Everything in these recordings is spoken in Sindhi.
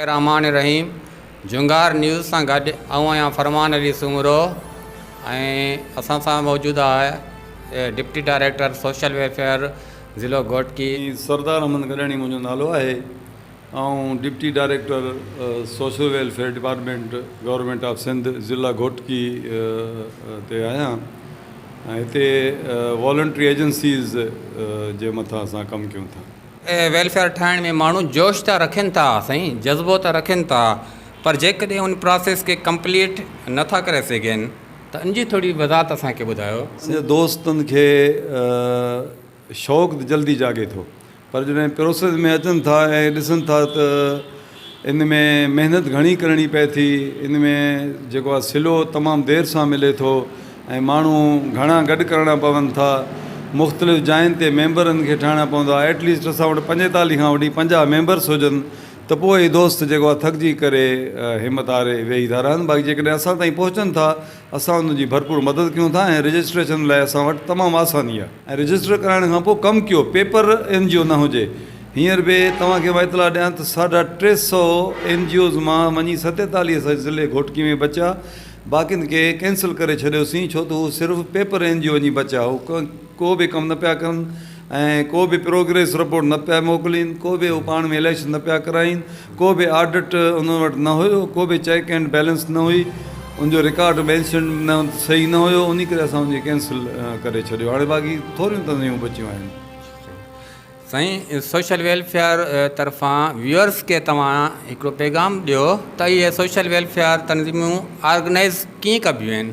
الرحمان الرحيم جهونگار نيوز سان گڏ آئون آهيان فرمان علي سومرو ۽ اسان سان موجود آهي ڊپٽي ڊائريڪٽر سوشل ويلفيئر ضلعو گهوٽڪي. سردار احمد گڏاڻي منهنجو نالو آهي آئون deputy director social welfare department government of Sindh ضلع گهوٽڪي تي آهيان ۽ هتي والنٽري ايجنسيز جي مٿان اسان ڪم ڪيون ٿا. ويلفيئر ٺاهڻ ۾ ماڻهو جوش ته رکن ٿا سائين جذبو ته رکن ٿا پر جيڪڏهن ان پراسيس کي ڪمپليٽ نه ٿا ڪري سگهن ته ان جي ٿوري وضاحت اسان کي ٻڌايو. سائين دوستن کي شوق ته جلدي جاڳي ٿو پر جڏهن پروسيس ۾ اچن ٿا ۽ ڏسن ٿا ته ان ۾ محنت گهڻي ڪرڻي پئي ٿي ان ۾ جيڪو آهي سلو تمام دير سان ملي ٿو ۽ ماڻهو گهڻا گڏ ڪرڻا پون ٿا مختلف جاين تي ميمبرن کي ٺاهڻا پوندا آهي ايٽ ليسٽ اسان وٽ پنجيتاليهه کان وٺي پنجاهه ميمبرس هجن ته پوء هي دوست جيڪو آهي ٿڪجي ڪري همت هاري ويهي ٿا رهن باقي جيڪڏهن اسان تائين پهچن ٿا اسان انهن جي ڀرپور مدد ڪيون ٿا ۽ رجسٽريشن لاء اسان وٽ تمام آساني آهي ۽ رجسٽر ڪرائڻ کان پوء ڪم ڪيو پيپر اين جي او نه هجي هينئر به توهان کي مان اطلاع ڏيان ته ساڍا ٽي سئو اين جي اوز مان وڃي ستيتاليهه سئو ضلعي گهوٽڪي ۾ بچيا باقين کي ڪينسل ڪري ڇڏيوسين ڇو ته هو صرف پيپر اين جي او وڃي بچيا هو ڪو به ڪم نه پيا ڪن ۽ ڪو به پروگريس رپورٽ نه پيا موڪلين، ڪو به هو پاڻ ۾ اليڪشن نه پيا ڪرائين، ڪو به آڊٽ انهن وٽ نه هيو، ڪو به چيڪ اينڊ بيلنس نه هئي، ان جو رڪارڊ مينشن نه صحيح نه هيو، انهي ڪري اسان ان کي ڪينسل ڪري ڇڏيو، هاڻي باقي ٿوريون تنظيمون بچيون آهن. سائين سوشل ويلفيئر طرفان ويورس کي توهان هڪڙو پيغام ڏيو ته اهي سوشل ويلفيئر تنظيمون آرگنائيز ڪيئن ڪبيون آهن؟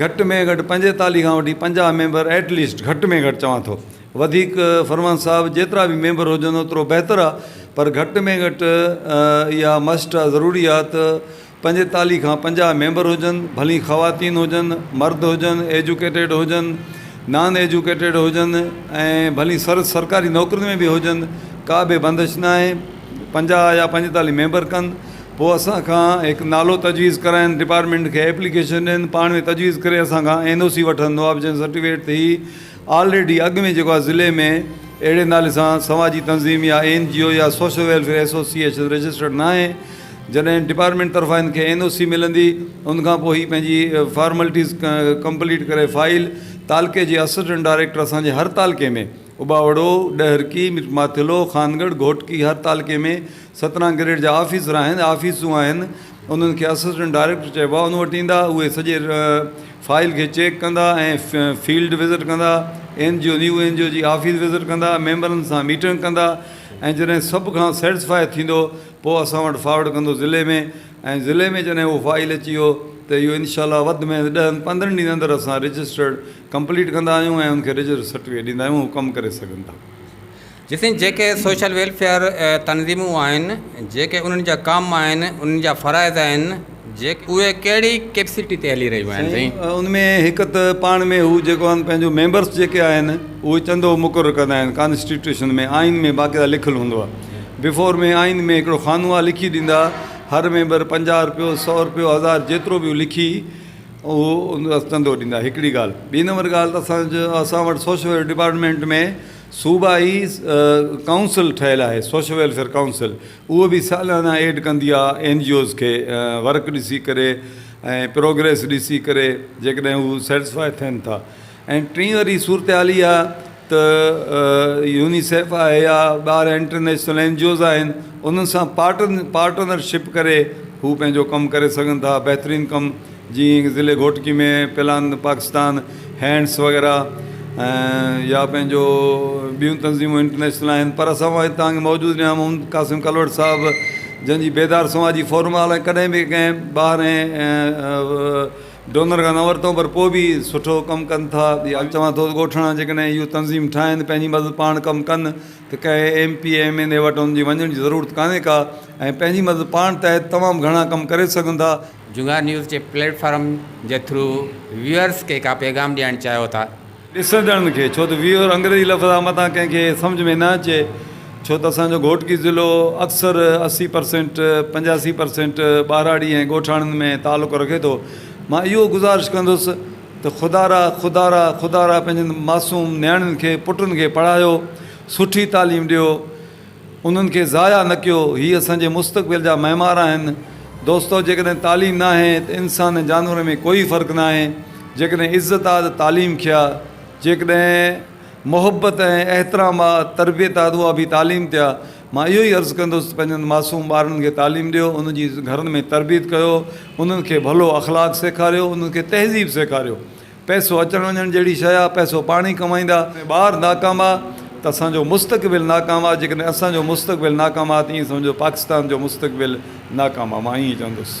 گهٽ ۾ گهٽ پنجيتاليهه کان وٺي پنجاهه ميمبر ائٽ ليسٽ گهٽ ۾ گهٽ چوان ٿو وڌيڪ فرمان صاحب جيترا به ميمبر هجن اوترو بهتر آ پر گهٽ ۾ گهٽ اها مسٽ آ ضروري آ ته پنجيتاليهه کان پنجاهه ميمبر هجن ڀلي خواتين هجن مرد هجن ايجوڪيٽيڊ هجن نان ايجوڪيٽيڊ هجن ۽ ڀلي سر سرڪاري نوڪرين ۾ به هجن ڪا به بندش ناهي. پنجاهه يا پنجيتاليهه ميمبر ڪن پوء اسان کان هڪ نالو تجويز ڪرائن ڊپارٽمينٽ کي ايپليڪيشن ڏين پاڻ ۾ تجويز ڪري اسان کان اين او سي وٺندو آ جنهن سرٽيفڪيٽ تي هي آلريڊي اڳ ۾ جيڪو آ ضلعي ۾ اهڙي نالي سان سماجي تنظيم يا اين جي او يا social welfare association registered ناهي جڏهن ڊپارٽمينٽ طرفان هن کي اين او سي ملندي ان کان پوء هي پنهنجي فارملٽيز ڪمپليٽ ڪري فائل تعلقي جي اسسٽنٽ ڊائريڪٽر اسان جي هر تعلقي ۾ اٻاوڙو، ڏهرڪي، ماٿيلو، خانڳڙهه، گهوٽڪي هر تعلقي ۾ سترهن گريڊ جا آفيسر آهن، آفيسون آهن، انهن کي اسسٽنٽ ڊائريڪٽر چئبو آهي، ان وٽ ايندا، اهي سڄي فائل کي چيڪ ڪندا ۽ فيلڊ وزٽ ڪندا، N G O, new N G O جي آفيس وزٽ ڪندا، ميمبرن سان ميٽنگ ڪندا ۽ جڏهن سڀ کان سيٽسفائي ٿيندو پوء اسان وٽ فارورڊ ڪندو ضلعي ۾ ۽ ضلعي ۾ جڏهن اهو فائل اچي ويو ته اهو انشاء الله وڌ ۾ وڌ ڏهن پندرهن ڏينهن اندر اسان رجسٽرڊ ڪمپليٽ ڪندا آهيون ۽ ان کي ريجسٽر سرٽيفڪيٽ ڏيندا آهيون هو ڪم ڪري سگهن ٿا. جيسين جيڪي سوشل ويلفيئر تنظيمون آهن جيڪي انهن جا ڪم آهن انهن جا فرائض آهن جيڪي اهي ڪهڙي ڪيپسٽي تي هلي رهيون آهن سائين. سائين ان ۾ هڪ ته پاڻ ۾ هو جيڪو آهن پنهنجو ميمبرس جيڪي آهن اهو چندو مقرر ڪندا آهن ڪانسٽيٽيوشن ۾ آئين ۾ باقيده لکيل هوندو آهي بفور ۾ آئين ۾ هڪڙو خانو آهي لکي ڏيندا هر ميمبر پنجاهه رپيو سو رپيو هزار جيترو به هو لکي اهو ان رس ڌنڌو ڏيندا هڪڙي ڳالهه ٻي نمبر ڳالهه ته اسان جو اسان وٽ سوشل ويلفيئر ڊپارٽمينٽ ۾ صوبائي ڪائونسل ٺهيل آهي سوشل ويلفيئر ڪائونسل اهو بي سالانه ايڊ ڪندي آهي اين جي اوز کي ورڪ ڏسي ڪري ۽ پروگريس ڏسي ڪري جيڪڏهن هو سيٽسفائي ٿين ٿا ۽ ٽين واري صورتحال اها ته يونيسيف آهي يا ٻار انٽرنيشنل اين جي اوز آهن انهن سان پارٽن پارٽنر شپ ڪري هو پنهنجو ڪم ڪري سگهن ٿا بهترين ڪم جيئن ضلعي گهوٽڪي ۾ پلان پاڪستان هينڊس وغيره يا پنهنجو ٻيون تنظيمون انٽرنيشنل آهن پر اسان وٽ تان کي موجود نيام محمد قاسم ڪلوڙ صاحب جنهن جي بيدار سماجي فورم آل ڪڏهن به ڪنهن ٻار ۽ ڊونر کان نه ورتو پر پوء به سٺو ڪم ڪن ٿا ٻيا چوان ٿو ته ڳوٺاڻا جيڪڏهن اهو تنظيم ٺاهن ته پنهنجي مدد پاڻ ڪم ڪن ته ڪنهن M P M N A وٽ انهن جي وڃڻ جي ضرورت ڪانهي ڪا ۽ پنهنجي مدد پاڻ تحت تمام گهڻا ڪم ڪري سگهن ٿا. جونگار نيوز جي پليٽ فارم جي ٿرو ويورز کي ڪا پيغام ڏيڻ چاهيو ٿا ڏسندڙن کي ڇو ته ويهر انگريزي لفظ آ متان ڪنهن کي سمجهه ۾ نه اچي ڇو ته اسان جو گهوٽڪي ضلعو اڪثر اسي پرسينٽ پنجاسي پرسينٽ ٻهراڙي ۽ ڳوٺاڻن ۾ تعلق رکي ٿو مان اهو گذارش ڪندس ته خدا را خدا را خدا را پنهنجن معصوم نياڻين کي پٽن کي پڙهايو سٺي تعليم ڏيو انهن کي ضايع نه ڪيو. هي اسان جي مستقبل جا معمار آهن. دوستو! جيڪڏهن تعليم ناهي ته انسان ۽ جانورن ۾ ڪوئي فرق ناهي. جيڪڏهن عزت آ ته تعليم کي آ. جيڪڏهن محبت ۽ احترام آ، تربيت آ ته اها به تعليم تي آ. مان اهو ئي عرض ڪندس ته پنهنجن معصوم ٻارڙن کي تعليم ڏيو، انهن جي گهرن ۾ تربيت ڪيو، انهن کي ڀلو اخلاق سيکاريو، انهن کي تهذيب سيکاريو. پئسو اچڻ وڃڻ جهڙي شيء آ، پئسو پاڻ ئي ڪمائيندا. ۽ ٻار ناڪام آ ته اسان جو مستقبل ناڪام آ، جيڪڏهن اسان جو مستقبل ناڪام آ ته ائين سمجهو پاڪستان جو مستقبل ناڪام آ، مان ائين چوندس.